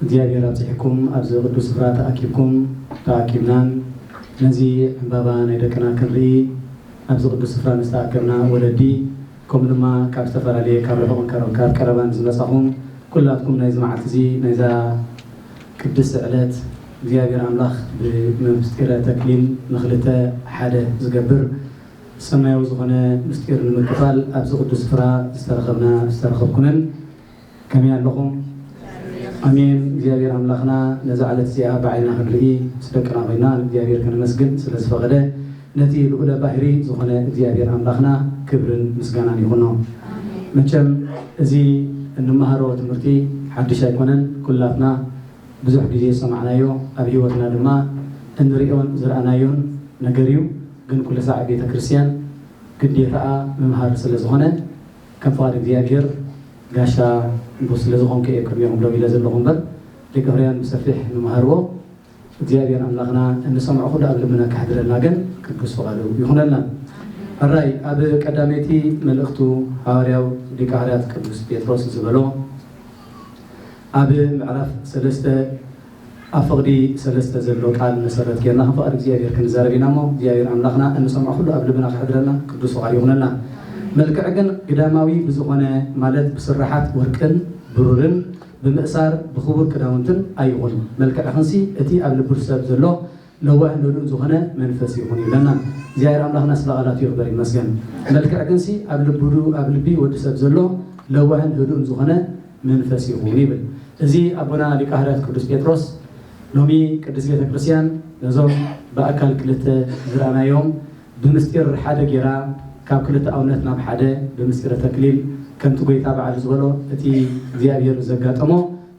እግዚኣብሔር ኣብጺሕኩም ኣብዚ ቅዱስ ስፍራ ተኣኪብኩም ተኣኪብናን ነዚ ዕንባባ ናይ ደቅና ክንርኢ ኣብዚ ቅዱስ ስፍራ ንዝተኣከብና ወለዲ ከምኡ ድማ ካብ ዝተፈላለየ ካብ ርሑቕን ካብ ካብ ቀረባን ዝመጻኹም ኩላትኩም ናይዚ መዓልቲ እዚ ናይዛ ቅድስቲ ዕለት እግዚኣብሔር ኣምላኽ ብምስጢረ ተክሊል ንክልተ ሓደ ዝገብር ሰማያዊ ዝኾነ ምስጢር ንምክፋል ኣብዚ ቅዱስ ስፍራ ዝተረኸብና ዝተረኸብኩምን ከመይ ኣለኹም? ኣሜን። እግዚኣብሔር ኣምላኽና ነዛ ዕለት እዚኣ ብዓይንና ክንርኢ ምስ ደቅና ኮይና ንእግዚኣብሔር ከነመስግን ስለ ዝፈቐደ ነቲ ልኡለ ባህሪ ዝኾነ እግዚኣብሔር ኣምላኽና ክብርን ምስጋናን ይኹኖ። መቸም እዚ እንመሃሮ ትምህርቲ ሓድሽ ኣይኮነን። ኩላትና ብዙሕ ግዜ ዝሰማዕናዮ ኣብ ህይወትና ድማ እንርእዮን ዝረኣናዮን ነገር እዩ። ግን ኩልሳዕ ቤተ ክርስቲያን ግዴታኣ ምምሃር ስለ ዝኾነ ከም ፍቓድ እግዚኣብሄር ጋሻ ንጉስ ስለ ዝኾንኩ እየ ቅድሜኹም ደው ኢለ ዘለኹ እምበር ሊቀሕሩያን ብሰፊሕ ምመሃርዎ እግዚኣብሄር ኣምላኽና እንሰምዖ ኩሉ ኣብ ልብና ከሕድረልና ግን ቅዱስ ፍቓዱ ይኹነልና። ሕራይ ኣብ ቀዳመይቲ መልእኽቱ ሃዋርያው ሊቀሕሩያት ቅዱስ ጴጥሮስ ዝበሎ ኣብ ምዕራፍ ሰለስተ ኣብ ፍቕዲ ሰለስተ ዘሎ ቃል መሰረት ጌርና ከም ፍቓድ እግዚኣብሔር ክንዛረብ ኢና እሞ እግዚኣብሔር ኣምላኽና እንሰምዖ ኩሉ ኣብ ልብና ከሕድረልና ቅዱስ ፍቓዱ ይኹነልና። መልክዕ ግን ግዳማዊ ብዝኾነ ማለት ብስርሓት ወርቅን ብሩርን ብምእሳር ብኽቡር ክዳውንትን ኣይኹን። መልክዕኽንሲ እቲ ኣብ ልቡ ሰብ ዘሎ ለዋህ ምሉእ ዝኾነ መንፈስ ይኹን ይብለና እግዚኣብሔር ኣምላኽና ስለ ቃላቱ ይኽበር ይመስገን መልክዕ ግንሲ ኣብ ልቡዱ ኣብ ልቢ ወዲ ሰብ ዘሎ ለዋህን ህዱእን ዝኾነ መንፈስ ይኹን ይብል እዚ ኣቦና ሊቀ ሐዋርያት ቅዱስ ጴጥሮስ ሎሚ ቅድስት ቤተ ክርስቲያን ነዞም ብኣካል ክልተ ዝረኣናዮም ብምስጢር ሓደ ጌራ ካብ ክልተ ኣውነት ናብ ሓደ ብምስጢረ ተክሊል ከምቲ ጎይታ በዓል ዝበሎ እቲ እግዚኣብሔር ዘጋጠሞ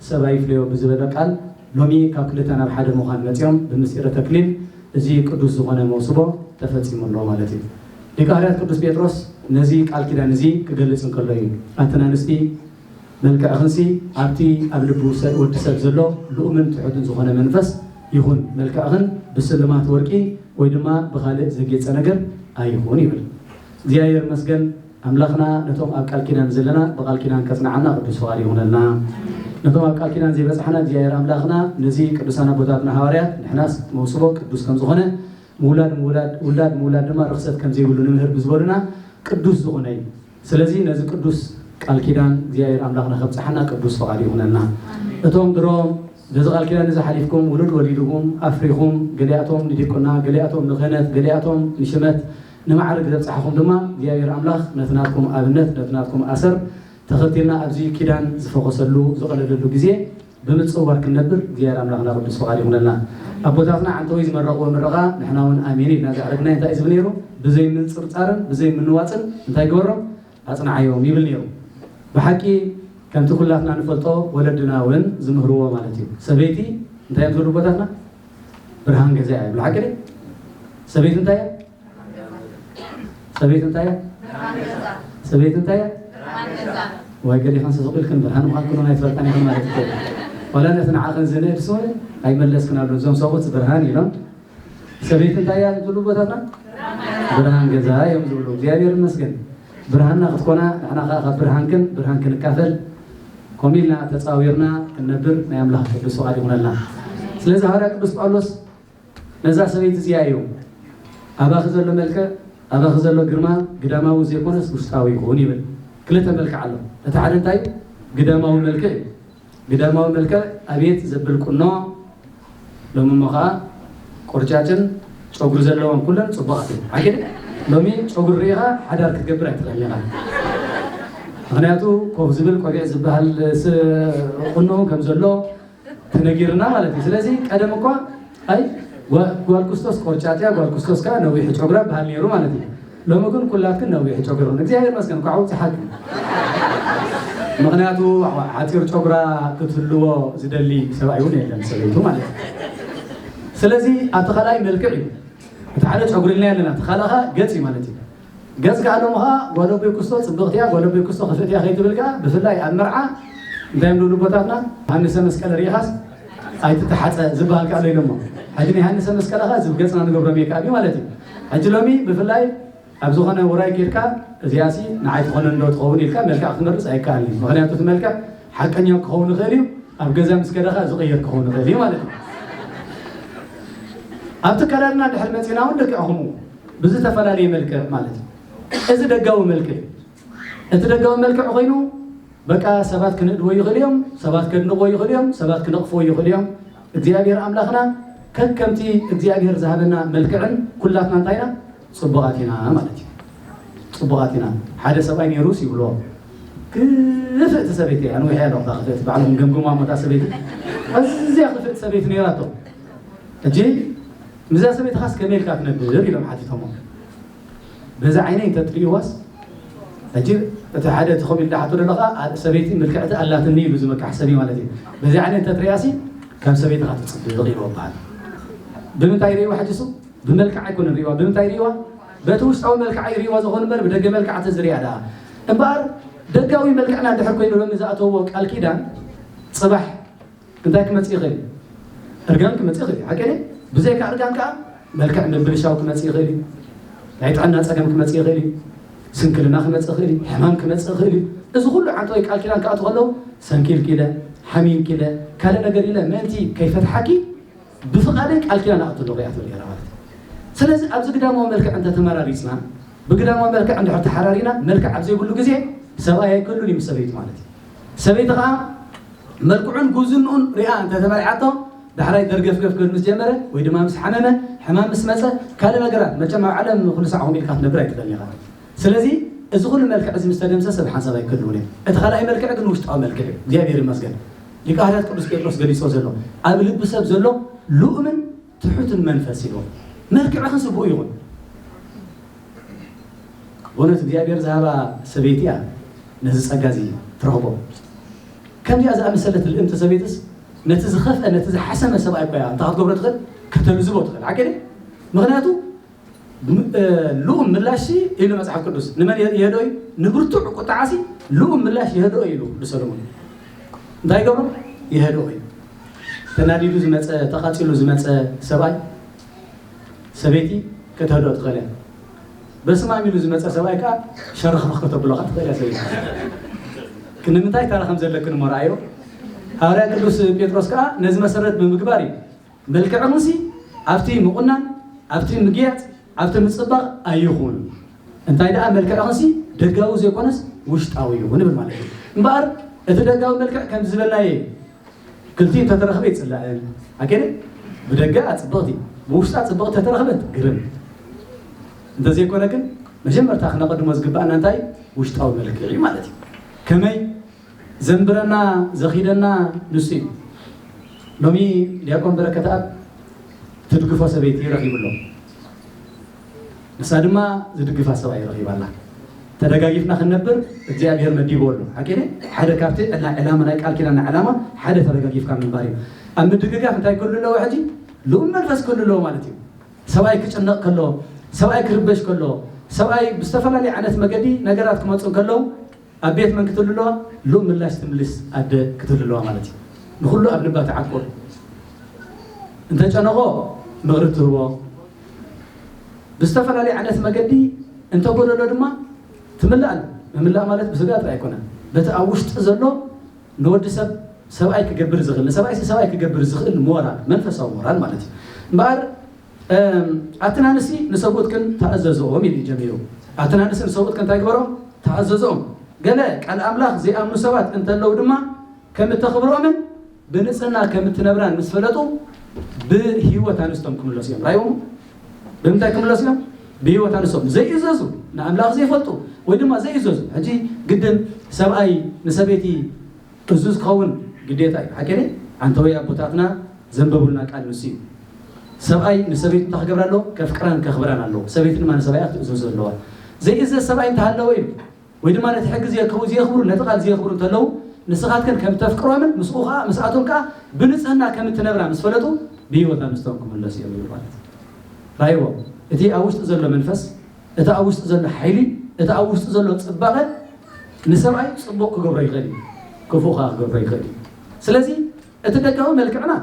ሰብኣይ ፍለዮ ብዝበለ ቃል ሎሚ ካብ ክልተ ናብ ሓደ ምዃን መጺኦም ብምስጢረ ተክሊል እዚ ቅዱስ ዝኾነ መውስቦ ተፈጺሙ ኣሎ ማለት እዩ። ሊቀ ሐዋርያት ቅዱስ ጴጥሮስ ነዚ ቃል ኪዳን እዚ ክገልጽ እንከሎ እዩ ኣትን ኣንስቲ መልክዕኽንሲ ኣብቲ ኣብ ልቢ ወዲ ሰብ ዘሎ ልኡምን ትሑትን ዝኾነ መንፈስ ይኹን መልክዕኽን ብስልማት ወርቂ ወይ ድማ ብኻልእ ዘጌጸ ነገር ኣይኹን ይብል። እግዚኣብሔር መስገን ኣምላኽና ነቶም ኣብ ቃል ኪዳን ዘለና ብቃል ኪዳን ከጽንዓና ቅዱስ ፍቃድ ይኹነልና ነቶም ኣብ ቃል ኪዳን ዘይበጽሓና እግዚኣብሔር ኣምላኽና ነዚ ቅዱሳን ኣቦታትና ሃዋርያት ንሕናስ መውስቦ ቅዱስ ከም ዝኾነ ምውላድ ምውላድ ውላድ ምውላድ ድማ ርኽሰት ከም ዘይብሉ ንምህር ብዝበሉና ቅዱስ ዝኾነ እዩ ስለዚ ነዚ ቅዱስ ቃል ኪዳን እግዚኣብሔር ኣምላኽና ከብጽሓና ቅዱስ ፍቃድ ይኹነልና እቶም ድሮም ነዚ ቃል ኪዳን እዚ ሓሊፍኩም ውሉድ ወሊድኩም ኣፍሪኹም ገሊኣቶም ንዲቁና ገሊኣቶም ንክህነት ገሊኣቶም ንሽመት ንማዕርግ ዘብጽሓኹም ድማ እግዚኣብሔር ኣምላኽ ነቲ ናትኩም ኣብነት ነቲ ናትኩም ኣሰር ተኸቲልና ኣብዚ ኪዳን ዝፈኾሰሉ ዝቐለለሉ ግዜ ብምጽዋር ክንነብር እግዚኣብሔር ኣምላኽና ቅዱስ ፍቓድ ይኹነልና። ኣቦታትና ዓንተወይ ዝመረቕዎ ምረቓ ንሕና እውን ኣሜን ኢልና ዘዕረግናዮ እንታይ እዩ ዝብል ነይሩ? ብዘይምንጽርጻርን ብዘይምንዋጽን እንታይ ግበሮም? ኣጽንዓዮም ይብል ነይሩ። ብሓቂ ከምቲ ኩላትና ንፈልጦ ወለድና ውን ዝምህርዎ ማለት እዩ። ሰበይቲ እንታይ እዮም ዝብሉ ኣቦታትና? ብርሃን ገዛ እያ ይብሉ። ሓቂ ድዩ? ሰበይቲ እንታይ እያ? ሰበይቲ እንታይ እያ? ሰበይቲ እንታይ እያ? ወይ ገሊኹም ስቕ ኢልክን ብርሃን ምዃንክን ውን ኣይትፈልጣን ኢኹም ማለት እዩ። ዋላ ነቲ ንዓኽን ዝንእድ ስውን ኣይመለስክናሉን። እዞም ሰብኡት ብርሃን ኢሎም ሰበይቲ እንታይ እያ ዝብሉ ቦታትና ብርሃን ገዛ እዮም ዝብሉ እግዚኣብሔር ይመስገን ብርሃንና ክትኮና ንሕና ከዓ ካብ ብርሃንክን ብርሃን ክንካፈል ከምኡ ኢልና ተፃዊርና ክንነብር ናይ ኣምላኽ ቅዱስ ፍቓድ ይኹነልና ስለዚ ሃዋርያ ቅዱስ ጳውሎስ ነዛ ሰበይቲ እዚኣ እዩ ኣባኺ ዘሎ መልክዕ ኣባኺ ዘሎ ግርማ ግዳማዊ ዘይኮነስ ውሽጣዊ ይኹን ይብል ክልተ መልክዕ ኣሎ እቲ ሓደ እንታይ ግዳማዊ መልክዕ እዩ ግዳማዊ መልክዕ ኣብየት ዘብል ቁኖ ሎሚ እሞ ከኣ ቆርጫጭን ጨጉሪ ዘለወን ኩለን ጽቡቃት እየን ሓቂ ሎሚ ጨጉሪ ርኢኻ ሓዳር ክትገብር ኣይትኽእልን ኢኻ ምክንያቱ ኮፍ ዝብል ቆቢዕ ዝበሃል ቁኖ ከም ዘሎ ተነጊርና ማለት እዩ ስለዚ ቀደም እኳ ኣይ ጓል ኩስቶስ ቆርጫጥያ ጓል ኩስቶስ ከኣ ነዊሕ ጨጉራ በሃል ነይሩ ማለት እዩ ሎሚ ግን ኩላትክን ነዊሕ ጨጉርኽን እግዚኣብሔር ይመስገን እንኳዕ ኣብፀሓክን ምክንያቱ ሓፂር ጨጉራ ክትህልዎ ዝደሊ ሰብኣይ እውን የለን ሰበይቱ ማለት እዩ ስለዚ ኣብቲ ካልኣይ መልክዕ እዩ እቲ ሓደ ጨጉሪ ኢልና ኣለና እቲ ካልእ ከዓ ገፅ እዩ ማለት እዩ ገፅ ከዓ ሎሚ ከዓ ጓል ኣቦይ ክስቶ ፅብቕቲ እያ ጓል ኣቦይ ክስቶ ክፍእቲ እያ ከይትብል ከዓ ብፍላይ ኣብ መርዓ እንታይ እዮም ዝብሉ ቦታትና ሃንሰ መስቀል ርኢኻስ ኣይትተሓፀ ዝበሃል ከ ኣሎ ኢሎሞ ሕጂ ንዮሃንሰ መስቀል ከ እዚ ገፅና ንገብሮ ሜክኣብ እዩ ማለት እዩ ሕጂ ሎሚ ብፍላይ ኣብ ዝኾነ ውራይ ኬድካ እዚኣ ሲ ንዓይ ትኾነን ዶ ትኸውን ኢልካ መልክዕ ክትመርፅ ኣይከኣልን እዩ ምክንያቱ እቲ መልክዕ ሓቀኛ ክኸውን ይኽእል እዩ ኣብ ገዛ ምስ ከደ ከ ዝቕየር ክኸውን ይኽእል እዩ ማለት እዩ ኣብ ትከላልና ድሕር መፂና እውን ደቂዕኹም ብዝተፈላለየ መልክዕ ማለት እዩ እዚ ደጋዊ መልክዕ እዩ እቲ ደጋዊ መልክዕ ኮይኑ በቃ ሰባት ክንእድዎ ይኽእሉ እዮም፣ ሰባት ከድንቕዎ ይኽእሉ እዮም፣ ሰባት ክነቕፍዎ ይኽእሉ እዮም። እግዚኣብሔር ኣምላኽና ከከምቲ እግዚኣብሔር ዝሃበና መልክዕን ኩላትና እንታይ ኢና ፅቡቓት ኢና ማለት እዩ። ፅቡቓት ኢና ሓደ ሰብኣይ ነይሩስ ይብልዎ ክፍእቲ ሰበይቲ እያ ንዊሕ እያ ዶክታ ክፍእቲ ባዕሎም ገምግማ ሞታ ሰበይቲ ኣዝያ ክፍእቲ ሰበይቲ ነይራቶ ሕጂ ምዛ ሰበይትኻስ ከመይ ኢልካ ትነብር ኢሎም ሓቲቶሞ በዚ ዓይነይ እንተትርእይዋስ ሕጂ እቲ ሓደ እቲ ከምኡ ኢሉ ዝሓቶ ዘሎ ከኣ ሰበይቲ ምልክዕቲ ኣላትኒ ኢሉ ዝምካሕ ሰብ እዩ ማለት እዩ በዚ ዓይነት እንተትርእያሲ ከም ሰበይትኻ ትፅብቕ ኢሉ በሃል ብምንታይ ርእይዋ ሕጂ እሱ ብመልክዕ ኣይኮነን ርእይዋ ብምንታይ ርእይዋ በቲ ውሽጣዊ መልክዓ ይርእይዋ ዝኾኑ እምበር ብደገ መልክዓ ተዝርእያ ደኣ እምበኣር ደጋዊ መልክዕና እንድሕር ኮይኑ ሎሚ ዝኣተውዎ ቃል ኪዳን ፅባሕ እንታይ ክመጽእ ይኽእል እዩ? እርጋን ክመጽእ ይኽእል እዩ፣ ሓቀይ ድየ? ብዘይካ እርጋን ከኣ መልክዕ ምብልሻው ክመጽእ ይኽእል እዩ፣ ናይ ጥዕና ጸገም ክመጽእ ይኽእል እዩ፣ ስንክልና ክመጽእ ይኽእል እዩ፣ ሕማም ክመጽእ ይኽእል እዩ። እዚ ኩሉ ዓንተወይ ቃል ኪዳን ክኣቱ ከለዉ ሰንኪልኪለ ሓሚምኪለ ካልእ ነገር ኢለ ምእንቲ ከይፈትሓኪ ብፍቓደይ ቃል ኪዳን ኣእቱ ኣለኹ እያ ትብል ነይራ ማለት እዩ። ስለዚ ኣብዚ ግዳማዊ መልክዕ እንተ ተመራሪጽና፣ ብግዳማዊ መልክዕ እንድሕር ተሓራሪና፣ መልክዕ ኣብ ዘይብሉ ግዜ ሰብኣይ ኣይክህሉን እዩ ምስ ሰበይቱ ማለት እዩ። ሰበይቲ ከኣ መልክዑን ጉብዝንኡን ሪኣ እንተ ተመርዓቶ ዳሕራይ ደርገፍገፍ ክብል ምስ ጀመረ ወይ ድማ ምስ ሓመመ ሕማም ምስ መጸ ካልእ ነገራት መቸም ኣብ ዓለም ንኹሉ ሳዕ ከምኡ ኢልካ ክትነብር ኣይትኽእልን ኢኻ። ስለዚ እዚ ኩሉ መልክዕ እዚ ምስ ተደምሰሰ ብሓንሳብ ኣይክህልውን እዮም። እቲ ካልኣይ መልክዕ ግን ውሽጣዊ መልክዕ እዩ። እግዚኣብሄር ይመስገን ሊቀ ሃርያት ቅዱስ ጴጥሮስ ገሊጾ ዘሎ ኣብ ልቢ ሰብ ዘሎ ልኡምን ትሑትን መንፈስ ኢሉ መልክዕኺ ስቡእ ይኹን በእውነት እግዚኣብሔር ዝሃባ ሰበይቲ እያ ነዚ ጸጋ እዚ ትረኽቦ ከምዚኣ ዝኣመሰለት ልእምቲ ሰበይትስ ነቲ ዝኸፍአ ነቲ ዝሓሰመ ሰብኣይ እኳ እያ እንታ ክትገብሮ ትኽእል ከተልዝቦ ትኽእል ሓቂ ምክንያቱ ልኡም ምላሽ ኢሉ መጽሓፍ ቅዱስ ንመን ይሄዶ እዩ ንብርቱዕ ቁጥዓሲ ልኡም ምላሽ ይሄዶ ኢሉ ቅዱስ ሰለሞን እንታይ ገብሮ ይሄዶ እዩ ተናዲዱ ዝመፀ ተቃፂሉ ዝመፀ ሰብኣይ ሰበይቲ ከተህዶ ትኽእል እያ በስማም ኢሉ ዝመፀ ሰብኣይ ከዓ ሸረኽረኽ ከተብሎ ከዓ ትኽእል እያ ሰበይቲ ክንምንታይ ታራ ከም ዘለክን እሞ ረኣዮ ሃዋርያ ቅዱስ ጴጥሮስ ከዓ ነዚ መሰረት ብምግባር እዩ መልክዕሙሲ ኣብቲ ምቑናን፣ ኣብቲ ምግያጽ፣ ኣብቲ ምጽባቕ ኣይኹን፣ እንታይ ደኣ መልክዕኽንሲ ደጋዊ ዘይኮነስ ውሽጣዊ ይኹን ንብል ማለት እዩ። እምበኣር እቲ ደጋዊ መልክዕ ከምዚ ዝበልናዮ እዩ። ክልቲኡ እንተተረኽበ ይጽላእን ኣገደ ብደገኣ ጽብቕቲ ብውሽጣ ጽብቕቲ ተተረኽበት ግርም እንተዘይኮነ ግን መጀመርታ ክነቐድሞ ዝግባእና እንታይ ውሽጣዊ መልክዕ እዩ ማለት እዩ። ከመይ ዘንብረና ዘኺደና ንሱ እዩ ሎሚ ድያቆን በረከትኣብ ትድግፎ ሰበይቲ ረኺቡ ኣሎ ንሳ ድማ ዝድግፋ ሰብኣይ ረኺባ ኣላ ተደጋጊፍና ክንነብር እግዚኣብሔር መዲብዎ ኣሎ ሓቂነ ሓደ ካብቲ ዕላ ዕላማ ናይ ቃል ኪዳና ዕላማ ሓደ ተደጋጊፍካ ምንባር እዩ ኣብ ምድግጋፍ እንታይ ክህሉ ኣለዎ ሕጂ ልኡም መንፈስ ክህሉ ኣለዎ ማለት እዩ ሰብኣይ ክጭነቕ ከሎ ሰብኣይ ክርበሽ ከሎ ሰብኣይ ብዝተፈላለየ ዓይነት መገዲ ነገራት ክመፁ ከለዉ ኣብ ቤት መን ክትህሉ'ለዋ? ሉእ ምላሽ ትምልስ ኣደ ክትህሉ'ለዋ ማለት እዩ። ንኹሉ ኣብ ልባ ትዓቁር። እንተጨነቖ ምኽሪ ትህቦ። ብዝተፈላለየ ዓይነት መገዲ እንተጎደሎ ድማ ትምላእ። ምምላእ ማለት ብስጋ ጥራይ ኣይኮነን። በቲ ኣብ ውሽጢ ዘሎ ንወዲ ሰብ ሰብኣይ ክገብር ዝኽእል ንሰብኣይሲ ሰብኣይ ክገብር ዝኽእል ሞራል መንፈሳዊ ሞራል ማለት እዩ እምበኣር ኣትን ኣንስቲ ንሰብኡትክን ተኣዘዝኦም ኢሉ እዩ ጀሚሩ። ኣትን ኣንስቲ ንሰብኡትክን እንታይ ግበሮም? ተኣዘዝኦም። ገለ ቃል ኣምላኽ ዘይኣምኑ ሰባት እንተለዉ ድማ ከም እተኽብርኦምን ብንጽህና ከም እትነብራን ምስ ፈለጡ ብህይወት ኣንስቶም ክምለሱ እዮም። ራይዎም ብምንታይ ክምለሱ እዮም? ብህይወት ኣንስቶም ዘይእዘዙ ንኣምላኽ ዘይፈልጡ ወይ ድማ ዘይእዘዙ ሕጂ ግድን ሰብኣይ ንሰበይቲ እዙ ዝኸውን ግዴታ እዩ ሓቀይ ኣንተወይ ኣቦታትና ዘንበቡልና ቃል ንሱ እዩ ሰብኣይ ንሰበይቱ እንታይ ክገብራ ኣለዎ ከፍቅራን ከኽብራን ኣለዎ ሰበይቲ ድማ ንሰብኣያ ክትእዘዞ ኣለዋ ዘይእዘዝ ሰብኣይ እንተሃለወ እዩ ወይ ድማ ነቲ ሕጊ ዘየከቡ ዘየኽብሩ ነቲ ቃል ዘየኽብሩ እንተለዉ ንስኻትክን ከም ተፍቅሮምን ምስኡ ከዓ ምስኣቶም ከዓ ብንፅህና ከም እትነብራ ምስ ፈለጡ ብሂወታ ምስቶም ክምለሱ እዮም ማለት ራይዎ እቲ ኣብ ውሽጢ ዘሎ መንፈስ እቲ ኣብ ውሽጢ ዘሎ ሓይሊ፣ እቲ ኣብ ውሽጢ ዘሎ ጽባቐ ንሰብኣይ ጽቡቕ ክገብሮ ይኽእል እዩ፣ ክፉእ ከኣ ክገብሮ ይኽእል እዩ። ስለዚ እቲ ደጋዊ መልክዕና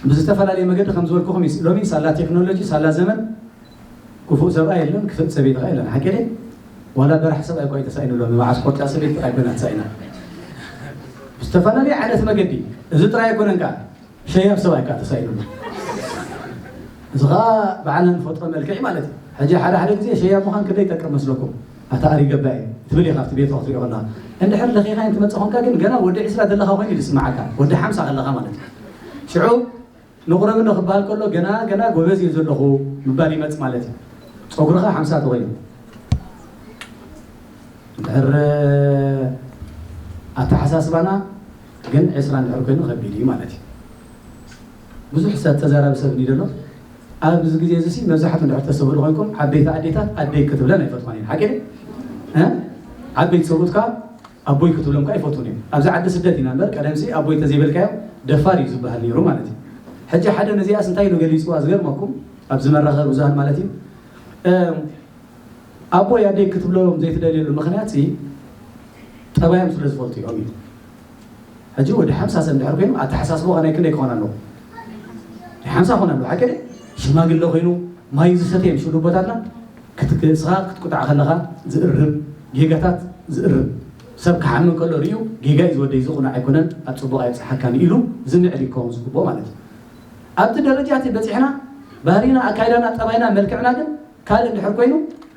ብዝተፈላለየ መገዲ ከም ዝበልኩኹም እዩ። ሎሚ ሳላ ቴክኖሎጂ፣ ሳላ ዘመን ክፉእ ሰብኣይ የለን፣ ክፍእቲ ሰበይቲ ከኣ የለን። ሓቂ ድየ? ዋላ በራሕ ሰብኣይ እኳ እዩ ተሳኢኑ ሎሚ፣ መዓስ ኮርጫ ሰበይቲ ጥራይ ኮይና ተሳኢና። ብዝተፈላለየ ዓይነት መገዲ፣ እዚ ጥራይ ኣይኮነን ከኣ። ሸያብ ሰብኣይ ከኣ ተሳኢኑኒ እዚ ከኣ ባዕልና ንፈጥሮ መልክዕ እዩ ማለት እዩ ሕጂ ሓደ ሓደ ግዜ ሸያብ ምዃን ክንደይ ይጠቅም መስለኩም ኣታ ኣሪ ገባኢ ትብል ኢኻ ኣብቲ ቤት ክትሪኦ ከለኻ እንድሕር ለኺኻይን ትመጽእ ኮንካ ግን ገና ወዲ ዕስራ ዘለኻ ኮይኑ ዝስምዓካ ወዲ ሓምሳ ከለኻ ማለት እዩ ሽዑ ንቑረብኒ ክበሃል ከሎ ገና ገና ጎበዝ እዩ ዘለኹ ምባል ይመፅ ማለት እዩ ፀጉርኻ ሓምሳ ተኮይኑ ድሕር ኣተሓሳስባና ግን ዕስራ እንድሕር ኮይኑ ከቢድ እዩ ማለት እዩ። ብዙሕ ሰብ ተዛራቢ ሰብ እንዲዩ ዘሎ ኣብዚ ግዜ እዚ ሲ መብዛሕቱ እንድሕር ተሰብእሉ ኮይንኩም ዓበይቲ ኣዴታት ኣደይ ክትብለን ኣይፈትዋን እየን ሓቂ እ ዓበይቲ ሰብኡት ከዓ ኣቦይ ክትብሎም ከዓ ይፈትዉን እዮም ኣብዚ ዓዲ ስደት ኢና እምበር ቀደም ሲ ኣቦይ ተዘይበልካዮ ደፋር እዩ ዝበሃል ነይሩ ማለት እዩ ሕጂ ሓደ ነዚኣስ እንታይ ኢሉ ገሊፅዋ ዝገርመኩም ኣብዚ መራኸቢ ብዙሃን ማለት እዩ ኣቦይ ኣደይ ክትብሎም ዘይትደልየሉ ምኽንያትሲ ጠባዮም ስለ ዝፈልጡ እዮም እዩ። ሕጂ ወዲ ሓምሳ ሰብ ድሕር ኮይኑ ኣተሓሳስቦ ከናይ ክንደይ ክኾን ኣለዎ? ሓምሳ ክኾን ኣለዎ ሓቂ ሽማግለ ኮይኑ ማይ ዝሰተ እዮም ሽዱቦታትና ክትስኻ ክትቁጣዕ ከለኻ ዝእርም ጌጋታት ዝእርም ሰብ ክሓምም ከሎ ርዩ ጌጋ እዩ ዝወደይ ዝኹነ ኣይኮነን ኣብ ፅቡቕ ኣይብፅሓካን ኢሉ ዝምዕድ ይከውን ዝግብኦ ማለት እዩ ኣብቲ ደረጃ እቲ በፂሕና ባህሪና ኣካይዳና ጠባይና መልክዕና ግን ካልእ እንድሕር ኮይኑ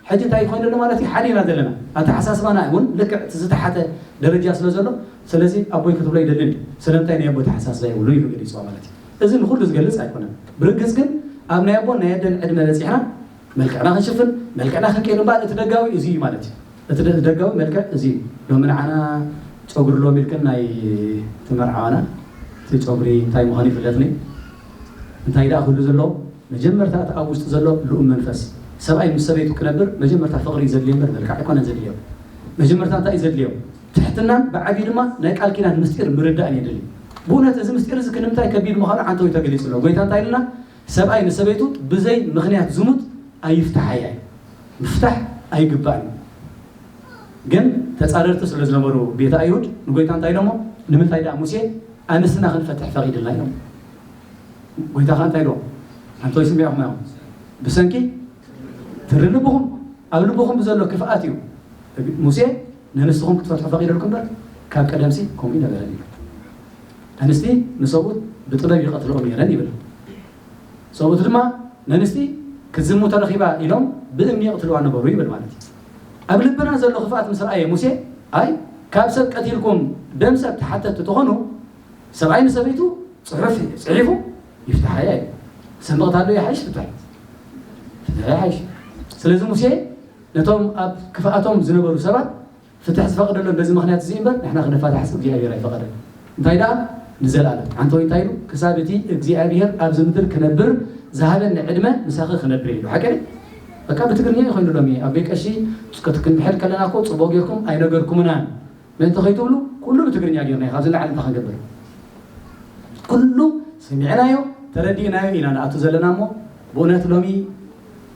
ሕጂ እንታይ ኮይኑ ኣሎ ማለት እዩ ሓሊና ዘለና ኣተሓሳስባና እውን ልክዕ እቲ ዝተሓተ ደረጃ ስለ ዘሎ ስለዚ ኣቦይ ክትብሎ ኣይደልን እዩ ስለምንታይ ናይ ኣቦ ኣተሓሳስባ የብሉን ኢሉ ገሊፅዋ ማለት እዩ እዚ ንኩሉ ዝገልፅ ኣይኮነን ብርግፅ ግን ኣብ ናይ ኣቦን ናይ ኣደን ዕድመ በፂሕና መልክዕና ክንሽፍን መልክዕና ክንቀይር እምበር እቲ ደጋዊ እዚ እዩ ማለት እዩ እቲ ደጋዊ መልክዕ እዚ እዩ ሎሚ ንዓና ፀጉሪ ሎሚ ኢልክን ናይ እቲ መርዓዋና እቲ ፀጉሪ እንታይ ምዃኑ ይፍለጥኒ እንታይ ደኣ ክህሉ ዘለዎ መጀመርታ እቲ ኣብ ውሽጢ ዘሎ ልኡም መንፈስ፣ ሰብኣይ ምስ ሰበይቱ ክነብር መጀመርታ ፍቕሪ እዩ ዘድልዮ እምበር መልክዕ ኣይኮነን ዘድልዮ። መጀመርታ እንታይ እዩ ዘድልዮ? ትሕትናን ብዓቢኡ ድማ ናይ ቃል ኪዳን ምስጢር ምርዳእን የድሊ። ብእውነት እዚ ምስጢር እዚ ክንምታይ ከቢድ ምዃኑ ዓንተውይ ተገሊጹ ኣሎ። ጎይታ እንታይ ኢሉና? ሰብኣይ ንሰበይቱ ብዘይ ምኽንያት ዝሙት ኣይፍታሓያ እዩ። ምፍታሕ ኣይግባእን እዩ። ግን ተጻረርቲ ስለ ዝነበሩ ቤተ ኣይሁድ ንጎይታ እንታይ ኢሎሞ? ንምንታይ ደኣ ሙሴ ኣንስትና ክንፈትሕ ፈቒድልና? ኢሎም። ጎይታኻ እንታይ ኢልዎም ኣንቶ ይስምዕኹም ኣዮም ብሰንኪ ትሪ ልብኹም ኣብ ልብኹም ብዘሎ ክፍኣት እዩ ሙሴ ነንስትኹም ክትፈትሑ ፈቂደልኩም በር ካብ ቀደምሲ ከምኡ ነበረ እዩ ኣንስቲ ንሰብኡት ብጥበብ ይቐትልኦ ነይረን ይብል ሰብኡት ድማ ነንስቲ ክትዝሙ ተረኺባ ኢሎም ብእምኒ ይቕትልዋ ነበሩ ይብል ማለት እዩ ኣብ ልብና ዘሎ ክፍኣት ምስ ረኣየ ሙሴ ኣይ ካብ ሰብ ቀቲልኩም ደም ሰብ ተሓተቲ ተኾኑ ሰብኣይ ንሰበይቱ ጽሑፍ ጽሒፉ ይፍታሓያ እዩ ሰንቕታ ዶ ይሓይሽ ፍትሕ ፍትሕ ይሓይሽ ስለዚ ሙሴ ነቶም ኣብ ክፍኣቶም ዝነበሩ ሰባት ፍትሕ ዝፈቅደሎም በዚ ምክንያት እዚ እምበር ንሕና ክንፋታሕስ እግዚኣብሔር ኣይፈቀደን እንታይ ደኣ ንዘለኣለም ሓንቲ ወይ እንታይ ኢሉ ክሳብ እቲ እግዚኣብሔር ኣብዚ ምድር ክነብር ዝሃበኒ ዕድመ ምሳኺ ክነብር ኢሉ ሓቂ በቃ ብትግርኛ ይኮይኑሎም እየ ኣብ ቤት ቀሺ ክትንሕድ ከለና እኮ ፅቡቅ ጌርኩም ኣይነገርኩምናን ምእንቲ ከይትብሉ ኩሉ ብትግርኛ ጌርናዮ ካብዚ ንላዕሊ እንታይ ክንገብር ኩሉ ሰሚዕናዮ ተረዲእናዮ ኢና ንኣቱ ዘለና እሞ ብእውነት ሎሚ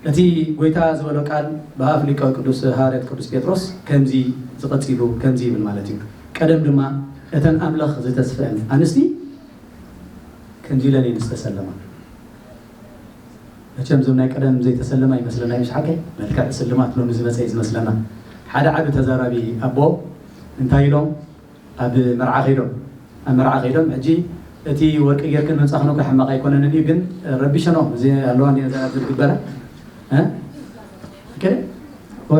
እቲ ጎይታ ዝበሎ ቃል ብኣፍ ሊቀ ቅዱስ ሃዋርያት ቅዱስ ጴጥሮስ ከምዚ ዝቐጺሉ ከምዚ ይብል ማለት እዩ ቀደም ድማ እተን ኣምላኽ ዝተስፈን ኣንስቲ ከምዚ ኢለን እየን ዝተሰለማ መቸም እዞም ናይ ቀደም ዘይተሰለማ ይመስለና እዩ ሓቀይ መልክዕ ስልማት ሎሚ ዝመፀ እዩ ዝመስለና ሓደ ዓቢ ተዛራቢ ኣቦ እንታይ ኢሎም ኣብ መርዓ ከይዶም ኣብ መርዓ ከይዶም ሕጂ እቲ ወርቂ ጌርክን ምንፃኽን እኮ ሕማቕ ኣይኮነንን እዩ ግን ረቢሸኖም እዚ ኣለዋ ዝግበረ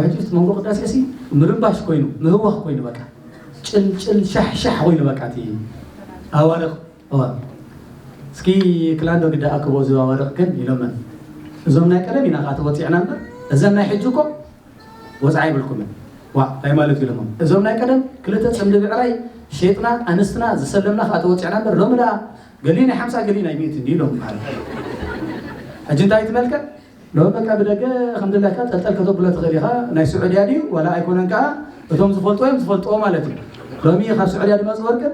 ሕጂ መንጎ ቅዳሴ ሲ ምርባሽ ኮይኑ ምህዋኽ ኮይኑ በቃ ጭልጭል ሻሕሻሕ ኮይኑ በቃ እቲ ኣዋርቕ ኦን እስኪ ክላንዶ ግዳ ኣክቦ እዚባ ወርቅ ግን ኢሎመን እዞም ናይ ቀደም ኢና ከኣ ተወጺዕና እምበር እዘን ናይ ሕጂ እኮ ወጽዓ ይብልኩምን ዋ ታይ ማለት ኢሎሞ እዞም ናይ ቀደም ክልተ ጽምዲ ብዕራይ ሸጥና ኣንስትና ዝሰለምና ከኣ ተወጺዕና እምበር ሎሚ ደኣ ገሊ ናይ ሓምሳ ገሊ ናይ ሚእቲ እንዲ ኢሎም በሃል ሕጂ እንታይ ትመልከት ሎሚ በቃ ብደገ ከምድላይካ ጠልጠል ከተብሎ ትኽእል ኢኻ ናይ ስዑድያ ድዩ ዋላ ኣይኮነን ከዓ እቶም ዝፈልጡ እዮም ዝፈልጥዎ ማለት እዩ ሎሚ ካብ ስዑድያ ድመፅ ወርቅን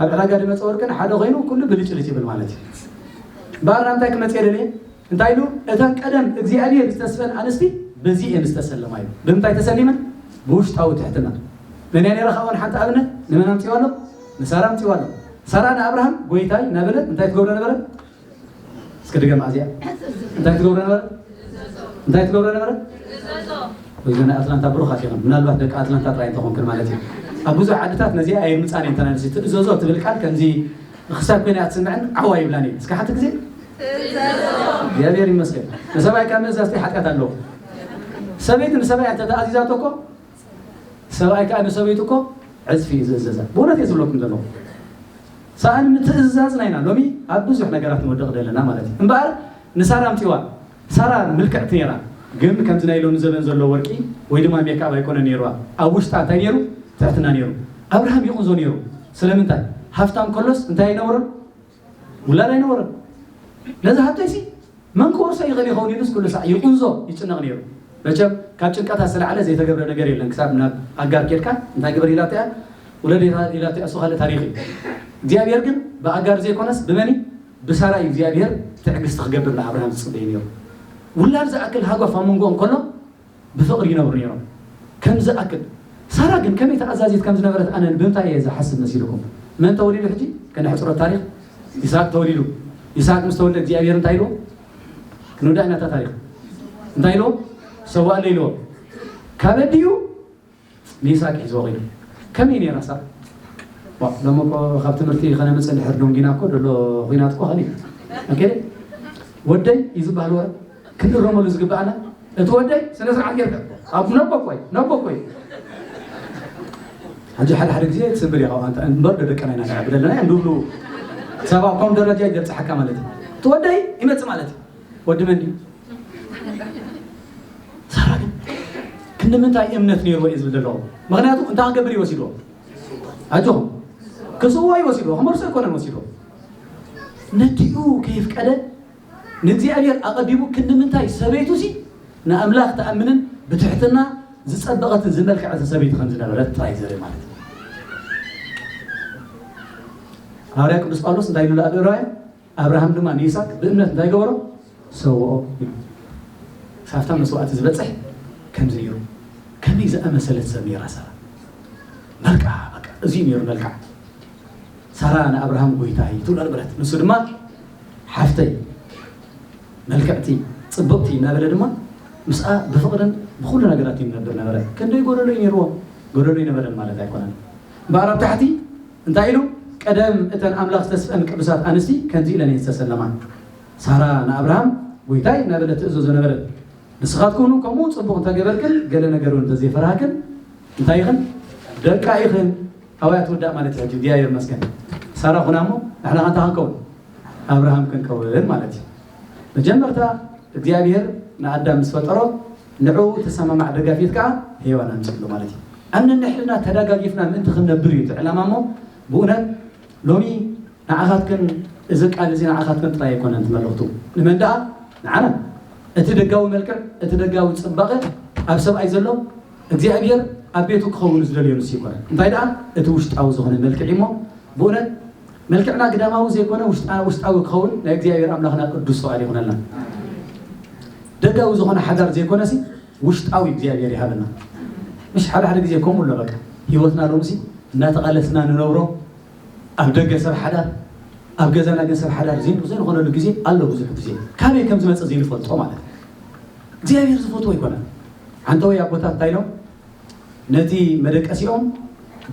ኣብ ዕዳጋ ድመፀ ወርቂ ንሓደ ኮይኑ ኩሉ ብልጭልጭ ይብል ማለት እዩ ባራ እንታይ ክመፅ የደለየ እንታይ ኢሉ እተን ቀደም እግዚኣብሔር ዝተስፈን ኣንስቲ በዚ እየን ዝተሰለማ እዩ ብምንታይ ተሰሊመን ብውሽጣዊ ትሕትና መን ነራ ካብኦን ሓንቲ ኣብነት ንመን ኣምፅዋ ኣሎ ንሳራ ኣምፅዋ ኣሎ ሳራ ንኣብርሃም ጎይታይ ነበለት እንታይ ትገብሮ ነበረት እስከ ድገማ እዚኣ እንታይ ትገብረ ነበረ እንታይ ትገብረ ነበረ እዚ ናይ ኣትላንታ ብሩኻት ኢኹም ምናልባት ደቂ ኣትላንታ ጥራይ እንተኾንክን ማለት እዩ ኣብ ብዙሕ ዓድታት ነዚኣ ኣይምፃን እየን ተናንሲ ትእዘዞ ትብል ቃል ከምዚ ክሳብ ኮይነ ኣትስምዐን ዓዋ ይብላን እየን እስከ ሓንቲ ግዜ እግዚኣብሔር ይመስገን ንሰብኣይ ካብ ምእዛዝቲ ሓጢኣት ኣለዎ ሰበይቲ ንሰብኣይ እንተ ተኣዚዛቶ እኮ ሰብኣይ ከኣ ንሰበይቱ እኮ ዕጽፊ እዩ ዝእዘዛ ብእውነት እየ ዝብለኩም ዘለኹ ሰኣን ምትእዝዛዝና ኢና ሎሚ ኣብ ብዙሕ ነገራት ንወድቕ ዘለና ማለት እዩ እምበኣር ንሳራ ኣምፅዋ ሳራ ምልክዕቲ ነይራ ግን ከምዚ ናይ ሎሚ ዘበን ዘሎ ወርቂ ወይ ድማ ሜካብ ኣይኮነ ነይሩዋ ኣብ ውሽጣ እንታይ ነይሩ ትሕትና ነይሩ ኣብርሃም ይቕንዞ ነይሩ ስለምንታይ ሃፍታም ከሎስ እንታይ ኣይነበሮን ውላድ ኣይነበሮን ነዚ ሃብተይሲ መን ክወርሶ ይኽእል ይኸውን ኢሉስ ኩሉ ሳዕ ይቑንዞ ይጭነቕ ነይሩ መቸም ካብ ጭንቀታት ስለዓለ ዘይተገብረ ነገር የለን ክሳብ ናብ ኣጋር ኬድካ እንታይ ግበር ኢላቶ እያ ውለድ ኢላቶ እያ እሱ ካልእ ታሪኽ እዩ እግዚኣብሔር ግን ብኣጋር ዘይኮነስ ብመን ብሳራ እዩ እግዚኣብሔር ትዕግስቲ ክገብር ንኣብርሃም ዝፅበዩ ነይሩ ውላድ ዝኣክል ሃጓፍ ኣብ መንጎኦም ከሎ ብፍቕሪ ይነብሩ ነይሮም ከም ዝኣክል። ሳራ ግን ከመይ ተኣዛዚት ከም ዝነበረት ኣነ ብምንታይ እየ ዝሓስብ መሲልኩም? መን ተወሊዱ ሕጂ? ከነሕጽሮ ታሪኽ ይስሃቅ ተወሊዱ። ይስሃቅ ምስ ተወልደ እግዚኣብሔር እንታይ ኢልዎ? ክንውዳእ ኢና እታ ታሪኽ። እንታይ ኢልዎ? ሰዋእለይ ኢልዎ። ካበድዩ ሜሳ ኪሒዝዎ ከይዱ ከመይ ነይራ ሳብ ዋእ ሎሚ እኮ ካብ ትምህርቲ ከነምጽእ ድሕር ዶንጊና እኮ ደሎ ኩናት እኮ ከሊኡ ኦኬ ወደይ እዩ ዝበሃል ወረ ክንእረመሉ ዝግባኣና እቲ ወደይ ስነ ስርዓት ጌርካ ኣብ ነቦኮይ ነቦኮይ ሕጂ ሓደ ሓደ ግዜ ትስምብል ኢኻ ኣንተ እምበር ዶ ደቅና ኢና ንዕብድ ኣለና እዮም ዝብሉ ሰብ ኣብ ኮም ደረጃ ይገብጽሓካ ማለት እዩ እቲ ወደይ ይመጽእ ማለት እዩ ወዲ መን ድዩ ሳራ ግን ክንዲ ምንታይ እምነት ነይርዎ እዩ ዝብል ዘለዎ ምክንያቱ እንታይ ክገብር እዩ ወሲድዎ ኣጆኹም ክስዎ እዩ ወሲድዎ ክመርሶ ኣይኮነን ወሲድዎ ነዲኡ ከይፍቀደ ንእግዚኣብሔር ኣቐዲሙ ክንዲ ምንታይ ሰበይቱ ሲ ንኣምላኽ ተኣምንን ብትሕትና ዝፀበቐትን ዝመልከዐትን ሰበይቲ ከም ዝነበረት ጥራይ ዘርኢ ማለት እዩ ሃዋርያ ቅዱስ ጳውሎስ እንታይ ኢሉ ኣብ ዕብራውያን ኣብርሃም ድማ ንይስሃቅ ብእምነት እንታይ ገበሮ? ሰውኦ ኢሉ። ክሳብታ መስዋእቲ ዝበጽሕ ከምዚ ነይሩ። ከመይ ዝኣመሰለት ሰብ ነይራ ሳራ! መልክዓ በቃ እዚ ነይሩ መልክዓ። ሳራ ንኣብርሃም ጎይታይ ትብሎ ነበረት፣ ንሱ ድማ ሓፍተይ መልክዕቲ ጽብቕቲ እናበለ ድማ ምስኣ ብፍቕርን ብኹሉ ነገራት ይነብር ነበረ። ክንደይ ጎደሎ እዩ ነይርዎ? ጎደሎ ይነበረን ማለት ኣይኮነን። እምበኣር ኣብ ታሕቲ እንታይ ኢሉ? ቀደም እተን ኣምላኽ ዝተስፈን ቅዱሳት ኣንስቲ ከምዚ ኢለን እየን ዝተሰለማ፣ ሳራ ንኣብርሃም ጐይታይ እናበለት ትእዘዞ ነበረት። ንስኻትኩም እውን ከምኡ ጽቡቕ እንተ ገበርክን ገለ ነገር እውን እንተ ዘይፈራህክን እንታይ ኢኽን? ደቃ ኢኽን። ኣዋይ ኣትወዳእ ማለት እዩ። ሕጂ እግዚኣብሔር ይመስገን ሳራ ኹና እሞ ንሕና ከ እንታይ ክንከውን? ኣብርሃም ክንከውን ማለት እዩ። መጀመርታ እግዚኣብሔር ንኣዳም ምስ ፈጠሮ ንዕኡ እተሰማማዕ ደጋፊት ከኣ ሄዋን ኣምጺኡሉ ማለት እዩ። ኣብ ነንሕድና ተዳጋጊፍና ምእንቲ ክንነብር እዩ እቲ ዕላማ እሞ ብኡነት ሎሚ ንዓኻትክን እዚ ቃል እዚ ንዓኻትክን ጥራይ ኣይኮነን እቲ መልእኽቱ ንመን ደኣ ንዓና እቲ ደጋዊ መልክዕ እቲ ደጋዊ ጽባቐ ኣብ ሰብኣይ ዘሎ እግዚኣብሔር ኣብ ቤቱ ክኸውን ዝደልዮ ንሱ ይኮነ እንታይ ደኣ እቲ ውሽጣዊ ዝኾነ መልክዕ እሞ ብኡነት መልክዕና ግዳማዊ ዘይኮነ ውሽጥና ውሽጣዊ ክኸውን ናይ እግዚኣብሔር ኣምላኽና ቅዱስ ፍቓድ ይኹነልና። ደጋዊ ዝኾነ ሓዳር ዘይኮነሲ ውሽጣዊ እግዚኣብሔር ይሃበና። ምሽ ሓደ ሓደ ግዜ ከምኡ ኣሎ በቃ ህይወትና ሎምሲ እናተቓለስና ንነብሮ ኣብ ደገ ሰብ ሓዳር ኣብ ገዛና ግን ሰብ ሓዳር ዘይንኾነሉ ግዜ ኣሎ ብዙሕ ግዜ ካበይ ከም ዝመፀ ዘይንፈልጦ ማለት እዩ እግዚኣብሔር ዝፈትዎ ኣይኮነን ሓንተወይ ኣቦታት እንታይ ኢሎም ነቲ መደቀሲኦም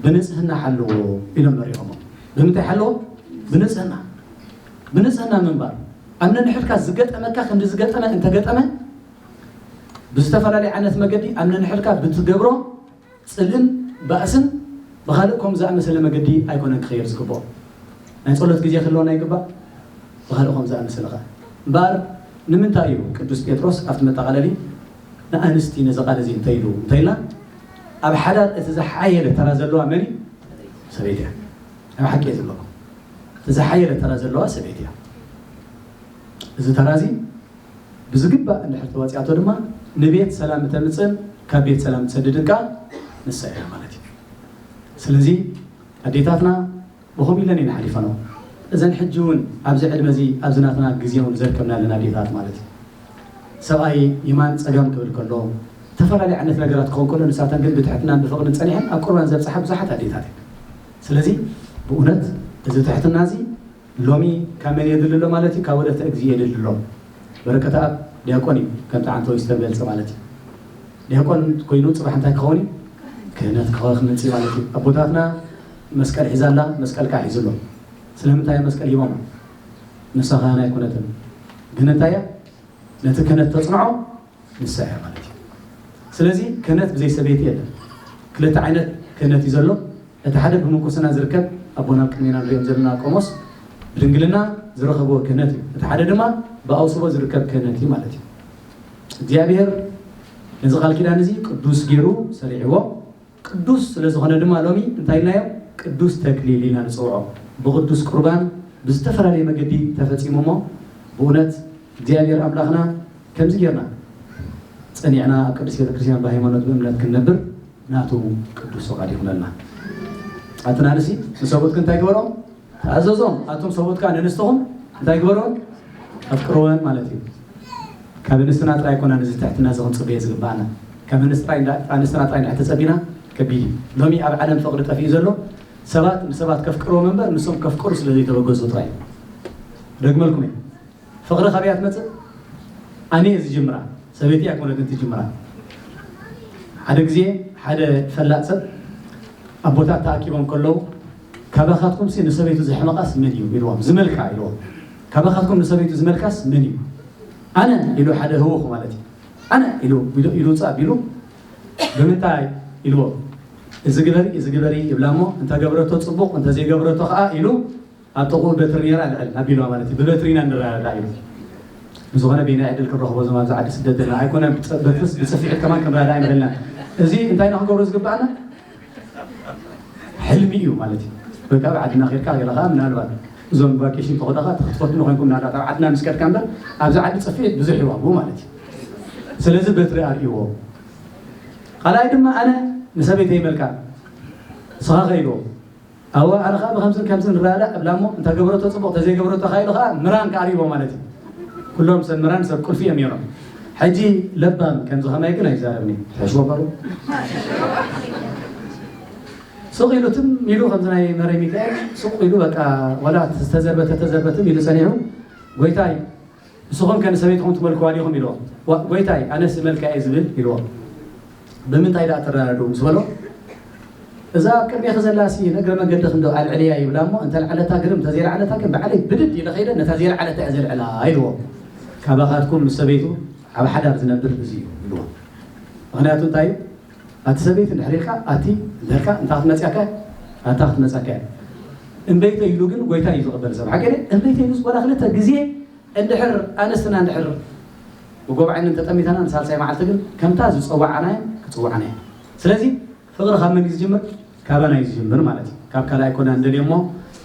ብንጽህና ሓልዎ ኢሎም መሪሖሞ። ብምንታይ ሓልዎ? ብንጽህና። ብንጽህና ምንባር። ኣብ ነንሕድካ ዝገጠመካ ክንዲ ዝገጠመ እንተገጠመ ብዝተፈላለየ ዓይነት መገዲ ኣብ ነንሕድካ ብትገብሮ ጽልእን ባእስን ብኻልእ ከምኡ ዝኣመሰለ መገዲ ኣይኮነን ክኸየድ ዝግብኦ። ናይ ጸሎት ግዜ ክህልወና ይግባእ። ብኻልእ ከምኡ ዝኣመሰለ ከኣ እምበኣር ንምንታይ እዩ ቅዱስ ጴጥሮስ ኣብቲ መጠቓለሊ ንኣንስቲ ነዚ ቃል እዚ እንታይ ኢሉ እንተኢልና ኣብ ሓዳር እቲ ዝሓየለ ተራ ዘለዋ መን እዩ? ሰበይቲ እያ። ናይ ብሓቂ እየ ዝብለኩም እቲ ዝሓየለ ተራ ዘለዋ ሰበይቲ እያ። እዚ ተራ እዚ ብዝግባእ እንድሕር ተዋፂኣቶ ድማ ንቤት ሰላም እተምፅእን ካብ ቤት ሰላም ትሰድድን ከዓ ንሳ እያ ማለት እዩ። ስለዚ ኣዴታትና ብኸምኡ ኢለን እየን ሓሊፈንኦ እዘን ሕጂ እውን ኣብዚ ዕድመ እዚ ኣብዚ ናትና ግዜ እውን ዘርከብና ኣለና ኣዴታት ማለት እዩ ሰብኣይ የማን ፀጋም ክብል ከሎ ተፈላለየ ዓይነት ነገራት ክኸውን ከሎ ንሳተን ግን ብትሕትናን ብፍቕርን ፀኒሐን ኣብ ቁርባን ዘብፅሓ ብዙሓት ኣዴታት እየን ስለዚ ብእውነት እዚ ትሕትና እዚ ሎሚ ካብ መን የድሊ ኣሎ ማለት እዩ ካብ ወለተ እግዚእ የድሊ ኣሎ በረከተ ኣብ ዲያቆን እዩ ከምቲ ዓንተ ወይ ዝተገልፀ ማለት እዩ ዲያቆን ኮይኑ ፅባሕ እንታይ ክኸውን እዩ ክህነት ክኸ ክመፅእ ማለት እዩ ኣቦታትና መስቀል ሒዛ ኣላ መስቀል ካኣ ሒዙ ኣሎ ስለምንታይ እያ መስቀል ሂቦማ ንሳ ካህን ኣይኮነትን ግን እንታይ እያ ነቲ ክህነት ተጽንዖ ንሳ እያ ማለት እዩ ስለዚ ክህነት ብዘይ ሰበይቲ የለን ክልተ ዓይነት ክህነት እዩ ዘሎ እቲ ሓደ ብምንኩስና ዝርከብ ኣቦና ቅድሜና ንሪኦም ዘለና ቆሞስ ብድንግልና ዝረኸብዎ ክህነት እዩ እቲ ሓደ ድማ ብኣውስቦ ዝርከብ ክህነት እዩ ማለት እዩ እግዚኣብሔር ነዚ ቃል ኪዳን እዚ ቅዱስ ገይሩ ሰሪዕዎ ቅዱስ ስለ ዝኾነ ድማ ሎሚ እንታይ ኢልናዮ ቅዱስ ተክሊል ኢልና ንጽውዖ። ብቅዱስ ቁርባን ብዝተፈላለየ መገዲ ተፈጺሙ እሞ ብእውነት እግዚኣብሔር ኣምላኽና ከምዚ ጌርና ጸኒዕና ኣብ ቅድስት ቤተክርስትያን ብሃይማኖት ብእምነት ክንነብር ናቱ ቅዱስ ፍቃድ ይኹነልና። ኣቲ ናንሲ ንሰብኡትኪ እንታይ ግበሮም ተኣዘዞም ኣቱም ሰብኡት ከኣ ንእንስትኹም እንታይ ግበርወን ኣፍቅርወን ማለት እዩ ካብ እንስትና ጥራይ ኮና ነዚ ትሕትና እዚ ክንጽበየ ዝግባኣና ካብ ኣንስትና ጥራይ ንሕ ተጸቢና ከቢድ እዩ ሎሚ ኣብ ዓለም ፍቕሪ ጠፊኡ ዘሎ ሰባት ንሰባት ከፍቅርዎም እምበር ንሶም ከፍቅሩ ስለ ዘይተበገሱ ጥራይ ደግመልኩም እየ ፍቅሪ ካበይ እያ ትመፅእ ኣነ እየ ዝጅምራ ሰበይቲ ኣይኮነትን ትጅምራ ሓደ ግዜ ሓደ ፈላጥ ሰብ ኣቦታት ተኣኪቦም ከለዉ ካባኻትኩም ሲ ንሰበይቱ ዘሕመቃስ መን እዩ ኢልዎም ዝመልካ ኢልዎም ካባኻትኩም ንሰበይቱ ዝመልካስ መን እዩ ኣነ ኢሉ ሓደ ህወኹ ማለት እዩ ኣነ ኢሉ ኢሉ ውፃእ ኣቢሉ ብምንታይ ኢልዎ እዚ ግበሪ እዚ ግበሪ ይብላ እሞ እንተገብረቶ ፅቡቕ እንተዘይገብረቶ ከዓ ኢሉ ኣብ ጥቕኡ በትሪ ነይራ ልዕል ኣቢሉዋ ማለት እዩ ብበትሪ ኢና ንረዳዳእ ኢሉ። ብዝኾነ በየናይ ዕድል ክንረኽቦ እዞም ኣብዚ ዓዲ ስደት ዘለና ኣይኮነን ብርሑስ ብጽፍዒት ከማን ክንረዳዳእ ኣይንኽእልናን እዚ እንታይ ኢና ክንገብሮ ዝግብኣና ሕልሚ እዩ ማለት እዩ ወይ ከዓ ብዓድና ኬድካ ገለ ከዓ ምናልባት እዞም ቫኬሽን ተኾዳኻ እቲ ክትፈትኑ ኮይንኩም ናዳ ኣብ ዓድና ምስ ከድካ እምበር ኣብዚ ዓዲ ጽፍዒት ብዙሕ ይዋግኡ ማለት እዩ ስለዚ በትሪ ኣርእይዎ ካልኣይ ድማ ኣነ ንሰበይተይ መልካ ስኻ ከይዶ ኣዋዕር ከኣ ብከምዝን ከምዝን ንረዳዳእ እብላ እሞ እንተ ገበረቶ ጽቡቕ እንተ ዘይገበረቶ ከኣ ኢሉ ከኣ ምራን ከኣ ርሂቦ ማለት እዩ። ኩሎም ሰብ ምራን ሰብ ቁልፊ እዮም ነይሮም። ሕጂ ለባም ከምዚ ከማይ ግን ኣይዛረብን እዩ። ትሕሽዎ በሩ ሱቕ ኢሉ ትም ኢሉ ከምዚ ናይ መረይ ሚካኤል ሱቕ ኢሉ በቃ ወላ ዝተዘርበተ ተዘርበትም ኢሉ ጸኒሑ ጎይታይ ንስኹም ከ ንሰበይትኹም ትመልክዋ ዲኹም? ኢልዎ። ዋእ ጐይታይ፣ ኣነስ እመልካ እየ ዝብል ኢልዎ። ብምንታይ ደኣ ትረዳድኡ? ምስ በሎ፣ እዛ ኣብ ቅድሜኺ ዘላሲ ንእግረ መንገድኺ እንዶ ኣልዕልያ ይብላ እሞ፣ እንተ ኣልዓለታ ግርም፣ እንተ ዘየልዓለታ ግን ብዓለይ ብድድ ኢለ ከይደ ነታ ዘየልዓለታ እየ ዘልዕላ ኢልዎ። ካባኻትኩም ምስ ሰበይቱ ኣብ ሓዳር ዝነብር እዚ እዩ ኢልዎ። ምኽንያቱ እንታይ እዩ? ኣቲ ሰበይቲ ድሕሪ ኢልካ ኣቲ ድሕርካ እንታይ ክትመጽያካ እያ ኣታ ክትመጻካ እያ እምበይተይ ኢሉ ግን ጎይታ እዩ ዝቕበል ሰብ ሓቂ ድየ እምበይተይ ኢሉ ዝጎላ ክልተ ግዜ እንድሕር ኣንስትና እንድሕር ብጎብዓንን ተጠሚታና ንሳልሳይ መዓልቲ ግን ከምታ ዝጸዋዓና እየን ክጽዋዓና እየን ስለዚ ፍቕሪ ካብ መን እዩ ዝጅምር ካባና እዩ ዝጅምር ማለት እዩ ካብ ካልኣይ ኮና እንደልዮ እሞ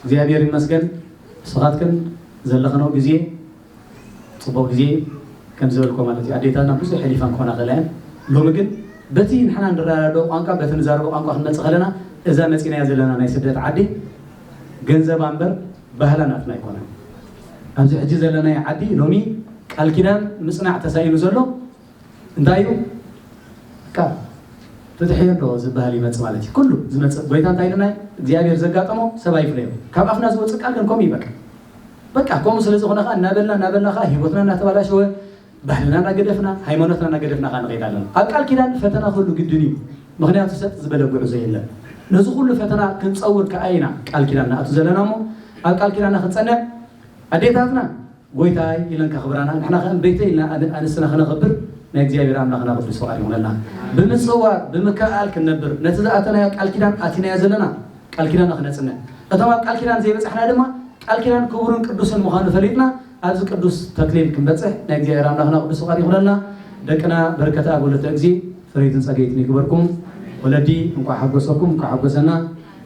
እግዚኣብሔር ይመስገን ንስኻትክን ዘለኽነው ግዜ ጽቡቅ ግዜ እዩ ከምዚ ዝበልክዎ ማለት እዩ ኣዴታትና ብዙሕ ሕሊፈን ክኮና ይክእላ እየን ሎሚ ግን በቲ ንሕና ንረዳድኦ ቋንቋ በቲ ንዛረቦ ቋንቋ ክንመጽእ ከለና እዛ መጺናያ ዘለና ናይ ስደት ዓዲ ገንዘባ እምበር ባህላ ናትና ኣይኮነን ኣብዚ ሕጂ ዘለናዮ ዓዲ ሎሚ ቃል ኪዳን ምጽናዕ ተሳኢኑ ዘሎ እንታይ እዩ ካብ ፍትሒ ኣሎ ዝበሃል ይመፅ ማለት እዩ ኩሉ ዝመፅእ ጎይታ እንታይ ኢልና እግዚኣብሔር ዘጋጠሞ ሰብ ኣይፍለዮ ካብ ኣፍና ዝወፅእ ቃል ግን ከምኡ ይበቃ በቃ ከምኡ ስለ ዝኾነ ከኣ እናበልና እናበልና ከኣ ሂወትና እናተባላሸወ ባህልና እናገደፍና ሃይማኖትና እናገደፍና ከኣ ንኸይድ ኣለና። ኣብ ቃል ኪዳን ፈተና ክህሉ ግድን እዩ ምኽንያቱ ሰጥ ዝበለ ጉዕዞ የለን። ነዚ ኩሉ ፈተና ክንጸውር ከኣ ኢና ቃል ኪዳን ንኣቱ ዘለና እሞ ኣብ ቃል ኪዳና ክንጸንዕ ኣዴታትና ጎይታይ ኢለን ከኽብራና ንሕና ከ ቤተይ ኢልና ኣንስትና ክነኽብር ናይ እግዚኣብሔር ኣምላኽና ቅዱስ ፍቃድ ይኹነልና። ብምጽዋር ብምክእኣል ክንነብር ነቲ ዝኣተናዮ ቃል ኪዳን ኣቲናዮ ዘለና ቃል ኪዳና ክነጽንዕ እቶም ኣብ ቃል ኪዳን ዘይበጻሕና ድማ ቃል ኪዳን ክቡርን ቅዱስን ምዃኑ ፈሊጥና ኣብዚ ቅዱስ ተክሊል ክንበጽሕ ናይ እግዚኣብሔር ኣምላኽና ቅዱስ ፍቃድ ይኹነልና ደቅና በርከተ ኣብ ወለተ እግዚእ ፈረይትን ጸገይትን ይግበርኩም ወለዲ እንቋዕ ሓጎሰኩም እንቋዕ ሓጎሰና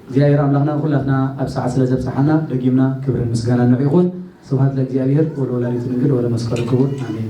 እግዚኣብሔር ኣምላኽና ንኩላትና ኣብ ሰዓት ስለ ዘብጽሓና ደጊምና ክብርን ምስጋናን ንዑ ይኹን ስብሃት ለእግዚኣብሔር ወለወላዲቱ ድንግል ወለመስቀሉ ክቡር ኣሜን